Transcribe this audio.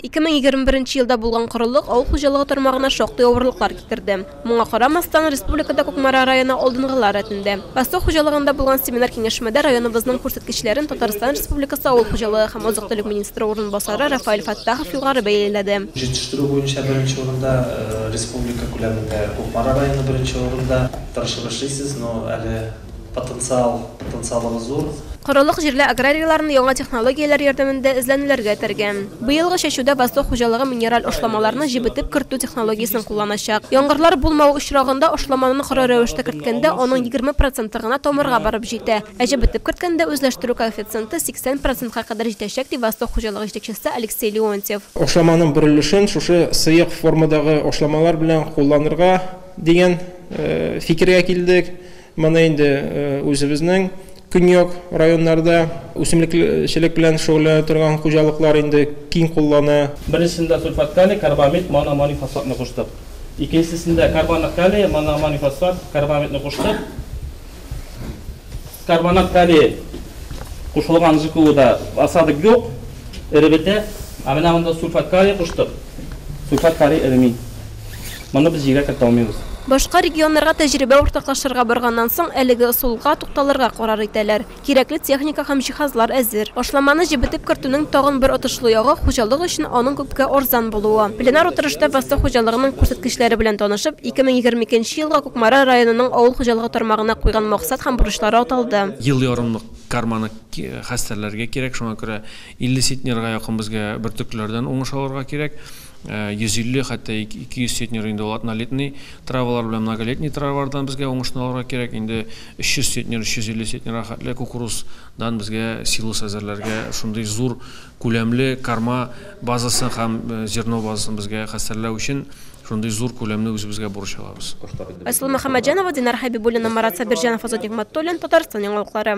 2021 елда булган корылык авыл хуҗалыгы тармагына шактый авырлыклар китерде. Моңа карамастан, республикада Кукмара районы алдынгылар рәтендә. Восток хуҗалыгында булган семинар-киңәшмәдә районыбызның күрсәткечләрен Татарстан Республикасы авыл хуҗалыгы һәм азык-төлек министры урынбасары Рафаэль Фәттахов югары бәяләде. Җитештерү буенча беренче урында, республика күләмендә Кукмара районы беренче урында. Тырышып эшлисез, но әле Потенциал, потенциалыбыз зур. Корылык җирле аграрийларны яңа технологияләр ярдәмендә эзләнүләргә этәргән. Быелгы чәчүдә Восток хуҗалыгы минераль ашламаларны җебетеп кертү технологиясен кулланачак. Яңгырлар булмавы очрагында ашламаны коры рәвештә керткәндә аның егерме проценты гына тамырга барып җитә, ә җебетеп керткәндә үзләштерү коэффициенты сиксән процентка кадәр җитәчәк, ди Восток хуҗалыгы җитәкчесе Алексей Леонтьев. Ашламаның бер өлешен шушы сыек формадагы ашламалар белән кулланырга. Дигән фикергә килдек. Моны инде үзебезнең көньяк районнарда үсемлекчелек белән шөгыльләнә торган хуҗалыклар инде киң куллана. Беренчесендә сульфат-калий, карбамид, моноамонифосфатны куштык. Икенчесендә карбонат-калий, моноамонифосфат, карбамидны куштык. Карбонат калия кушылган ЖКУда осадок юк, эребетә. Ә менә монда сульфат калия куштык. Сульфат калия эреми. Моны без җиргә кертә алмыйбыз. Башка регионнарга тәҗрибә уртаклашырга барганнан соң, әлеге ысулга тукталырга карар итәләр. Кирәкле техника һәм җиһазлар әзер. Башламаны җебетеп кертүнең тагын бер отышлы ягы, хуҗалык өчен аның күпкә арзан булуы. Пленар утырышта Восток хуҗалыгының күрсәткечләре белән танышып, 2022 елга Кукмара районының авыл хуҗалыгы тармагына куйган максат һәм бурычлары аталды. Ел ярымлык карманы хәстәрләргә кирәк, шуңа күрә 50 центнерга якын безгә бөртеклеләрдән уңыш алырга кирәк. 150, хәтта 200 центнер инде ул однолетный травалар белән многолетний травалардан безгә уңышны алырга кирәк. Инде 300 центнер, 350 центнерга хәтле кукуруз дан безгә силос әзерләргә, шундый зур күләмле карма базасын һәм зерно базасын безгә хәстәрләү өчен шундый зур күләмне үзебезгә бурыч алабыз. Айсылу Мөхәммәтҗанова, Динар Хәбибуллина, Марат Сабирҗанов, Азат Нигъмәтуллин, Татарстан яңалыклары.